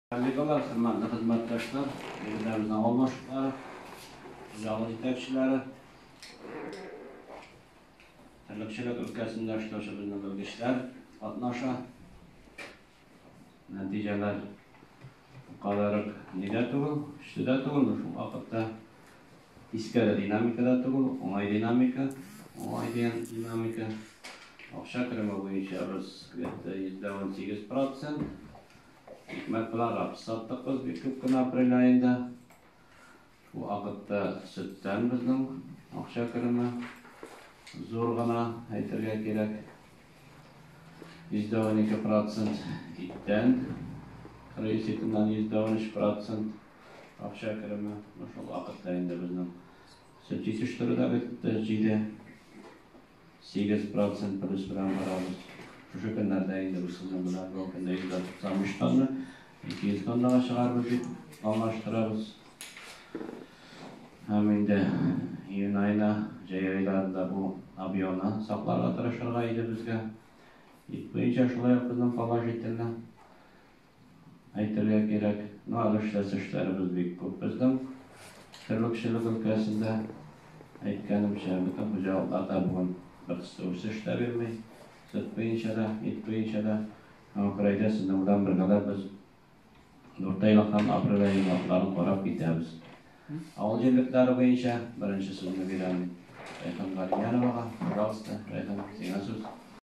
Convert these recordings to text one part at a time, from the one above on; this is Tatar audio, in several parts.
Коллегалар, хөрмәтле хезмәттәшләр, егетләребезнең авылдашлары, зал җитәкчеләре, терлекчелек өлкәсендә эшләүче безнең белгечләр катнаша. Нәтиҗәләр кадәрек нидә түгел, көчле дә түгел, шул вакытта искә дә динамика да түгел, уңай динамика, уңай дигән динамика. Акча кереме буенча без где-то 118 процент, Икмәк белән рапс саттык без бик күп кенә апрель аенда. Шул вакытта сөттән безнең акча кереме зур гына әйтергә кирәк. Йөздәвен ике процент иттән, рейс итеннән йөздәвен өч процент акча кереме. Шул вакытта инде безнең сөт җитештерү дә бетте, җиде. Сигез процент плюс белән барабыз. Шушы көннәрдә инде бу сезон белән бу көндә 193 тонна, 200 тоннага чыгарбыз дип планлаштырабыз. Һәм инде июнь аена, җәй айларында бу объемны сакларга тырышырга иде безгә. Ит буенча шулай ук безнең положительно. Әйтергә кирәк, нарышсыз эшләребез бик күп безнең терлекчелек өлкәсендә. Әйткәнемчә, бөтен хуҗалыклар да бүген беркысы үсеш тә бирми, сөт буенча да, ит буенча да. Һәм Фәридә сезнең белән бергәләп без дүртәйлек һәм апрель ае натларын карап китәбез. Авыл җирлекләре буенча беренче сүзне бирәм Рәйхан Галимяновага. Пожалуйста, Рәйхан, сиңа сүз.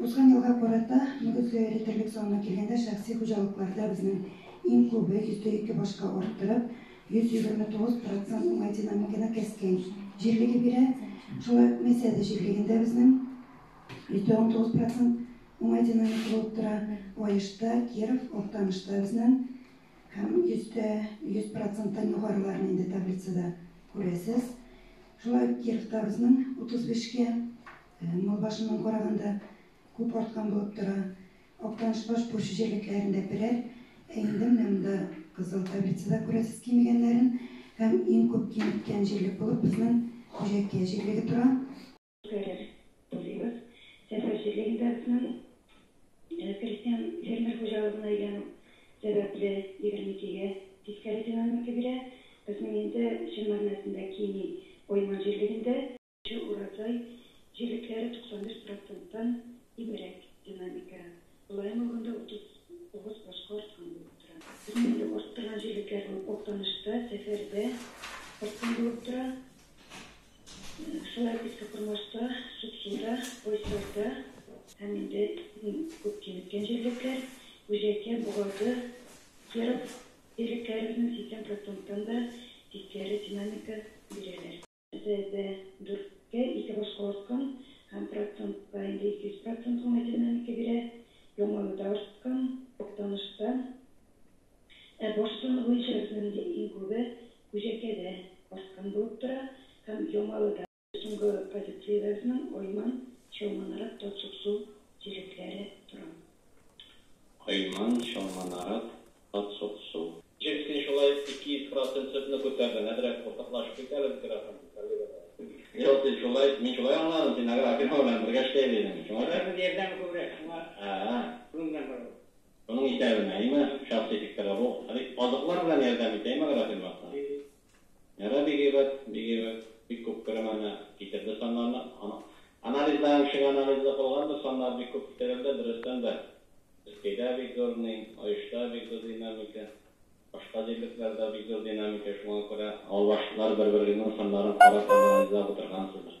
Узган елга карата, мөгезгә эретерлек санга килгәндә, шәхси хуҗалыкларда безнең иң күбе, йөздә ике башка арттырып, 129 процент уңай динамиканы кәскән җирлеге бирә. Шулай ук Месяде җирлегендә безнең, йөздә унтугыз процент, уңай динамика булып тора. Аешта, Киров, Актанышта безнең һәм йөздә йөз проценттан югарыларны инде таблицада күрәсез. Шулай ук Кировта безнең, утыз бишкә Мал башыннан караганда күп арткан булып тора. Актанышбаш Пучы җирлекләрендә берәр, ә инде менә монда кызыл таблицада күрәсез кимегәннәрен һәм иң күп кимеккән җирлек булып безнең Хуҗәккә җирлеге тора. Үткәрер булыйбыз. Сәфәр җирлегендә безнең крестьян фермер хуҗалыгына әйләнү сәбәпле, егерме икегә тискәре динамика бирә. Безнең инде чын мәгънәсендә кими Байман җирлегендә. Җыр Уразай җирлекләре 95 проценттан ибарәт динамика, мөлаем алганда 39 башка арткан булып тора. Җиңеллек арттырган җирлекләрнең Актанышта, Сәфәрдә арткан булып тора. Шулай ук Иске Кормашта, Суксуда, Байсарда һәм инде иң күп киметкән җирлекләр Гүҗәкә, Богады, Киров җирлекләребезнең 80 проценттан да тискәре динамика бирәләр. Үзебездә дүрткә ике башкаласкан һәм процентка инде 200 процент гына динамика бирә. Яңаюда арткан, Актанышта. Ә баш саны буенча безнең инде иң күбе Күҗәкәдә арткан булып тора һәм Яңалыда. Соңгы позициядәбезнең Айман, Чалманарат, Татсуксу җирлекләре тора. Айман, Чалманарат, Ат сот су. Ничек син шулай ике йөз процент сөтне күтәрдең? Әзрәк култыклашып кит әле бөтен рәхәт коллегалар. Юк, син шулай, мин шулай аңладым, син агрофирма белән бергә эшләйбез идең, шуңа күрә. Агрофирма ярдәме күбрәк, шуңа. А-а. Шуның белән барабыз. Шуның исәбенә, әйеме, шәхси фикер дә бу. Әле азыклар белән ярдәм итә, әйеме, агрофирма? Итә. Әнә бик әйбәт, бик әйбәт. Бик күп күренмәне китерде саннарны. Анализларың өчен анализны кылганбыз, саннар бик күп китерелде, дөрестән дә. Өскәйдә бик зур ни, Аешта бик зур динамика, башка җирлекләрдә бик зур динамика, шуңа күрә авыл башлар бер-берегезнең саннарын карап анализлап утыргансыздыр.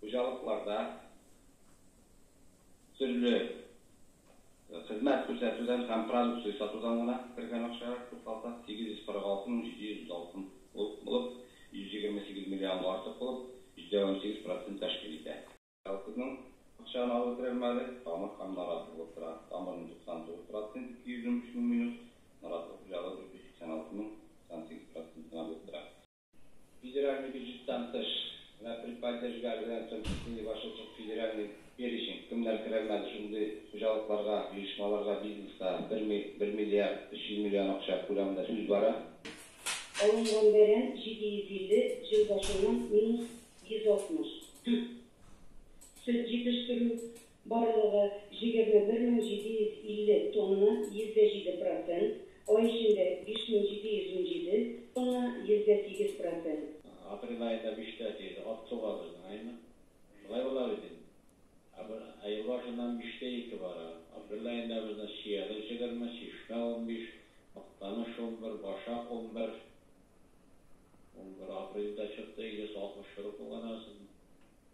Хуҗалыкларда төрле хезмәт күрсәтүдән һәм продукция сатудан гына кергән акчага тукталсак, 846 мең 706 булып, 128 миллионга артык булып, җитә унсигез процент тәшкил итә. Колхозның акчаны алу керәр мәле тамыр һәм наратлы булып тора, тамырның 99 процент, 213 мең минус, наратлы хуҗалык 486 мең 98 процент кына булып тора. Федеральный бюджеттан тыш вә предподдержка белән Центрстрой башкорт федеральный перечень, кемнәр керәлмәде шундый хуҗалыкларга, оешмаларга, бизнеска бер ми, бер миллиард өч йөз миллион акча күләмендә сүз бара. Алынган бәрән 750, җил башыннан минус 160. Сөт җитештерү. Барлыгы, җегерме бер мең җиде йөз илле тонна, йөздә җиде процент, ай эчендә, биш мең җиде йөз унҗиде тонна, йөздә сигез процент. Апрель аенда биштә тиеде, ат суга безнең айны. Шулай була бит инде. Ә ел башыннан биштә ике бара. Апрель аенда безнең чияле җегерме, чишмә унбиш, мактаныш унбер, башак унбер. Унбер апрельдә чыкты, йөз алтмыш чоры кулланасың.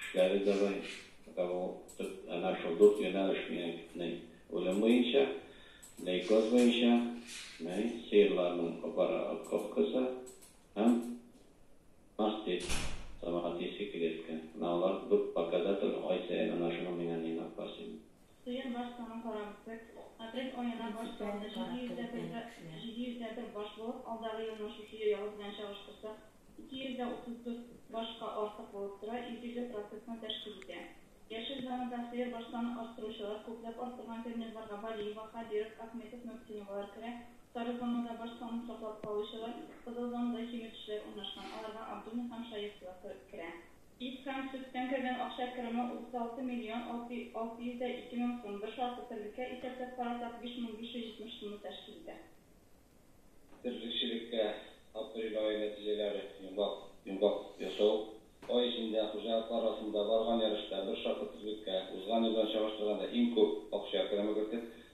Эшләре дә бай, фәкать ул төп әнә шул дүрт юнәлеш минең үлем буенча, лейкоз буенча, мәй, сыерларның упараковкасы һәм мастит сәмәгате сикеряткә. Менә алар дүрт пакада тора, ай саен әнә шуны миңа нигә апарасың? Сыер баш санын карап бет. Апрель аена баш саны 751 баш булып, алдагы елның шушы елы белән чагыштырсак, 234 башка артык булып тора, 150 процентны тәшкил итә. Яшел зонада сыер баш санын арттыручылар, күпләп арттырган фермерларга Валиева, Хәбиров, Әхметов, Мөхсиновалар керә, сары зонада баш санын саклап калучылар, кызыл зонада киметүчеләр урнашкан, аларга Абдуллин һәм Шаехлар керә. Ит һәм сөттән кергән акча кереме 36 миллион 602 мең сум, бер шартлы терлеккә исәпләп карасак, 5570 сумны тәшкил итә. Терлекчелеккә апрель ае нәтиҗәләре йомгак йомгак ясау. Ай эчендә хуҗалыклар арасында барган ярышта бер шартлы терлеккә узган елдан чагыштырганда иң күп акча кереме кертеп,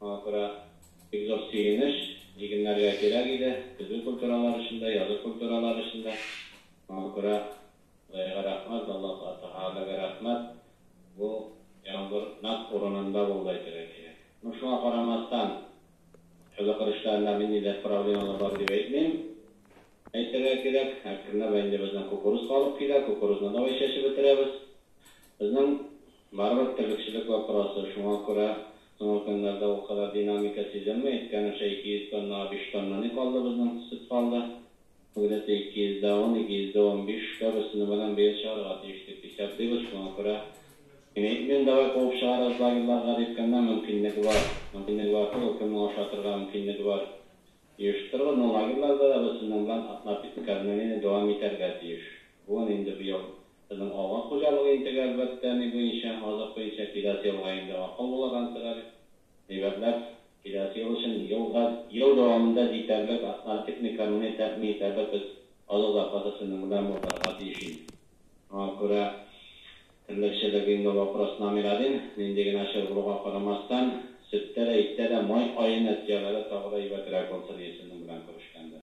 Аңа күрә бик зур сөенеч, игеннәргә кирәк иде, көзге культуралар өчен дә, язгы культуралар өчен дә. Аңа күрә Ходайга рәхмәт, Аллаһы Тәгаләгә рәхмәт, бу яңгыр нәкъ урынында булды әйтергә кирәк. Ну, шуңа карамастан, чаллыкыр эшләрендә мин нидер проблемалар бар дип әйтмим. Әйтергә кирәк, әкренләп ә инде безнең кукуруз калып килә, кукурузны давай чәчеп бетерәбез. Безнең барыбер терлекчелек вопросы, шуңа күрә Соңгы көннәрдә ул кадәр динамика сизелми. Әйткәнемчә, 200 тоннага 5 тонна ни калды, безнең төсеп калды. Где-то 210, 215 кәп өстенү белән быел чыгарырга тиеш дип исәплибез. Шуңа күрә мин әйтмим, давай куып чыгарыгыз лагерьларга, дип, кемнең мөмкинлеге бар. Мөмкинлеге барсы, ул кемнең ашатырга мөмкинлеге бар. Оештырылган лагерьлар да рәвешсезләнгән атнапитле кәрмәнене дәвам итәргә тиеш. Бүген инде быел безнең авыл хуҗалыгы интегә әлбәттә ни буенча, азык буенча киләсе елга инде акыл булаган сыгар, әйбәтләп, киләсе ел өчен елга, ел дәвамында җитәрлек атнарпитле кәрмәне тәэмин итәбез без, азык запасы сезнең белән булдырырга тиеш инде. Аңа күрә Терлечә дә бинго вопрос номер один, нинди генә чор булуга карамастан, сөттә дә, иттә дә май аена тияләре тагы да әйбәтерәк булсын, исемнең белән күрешкәндә.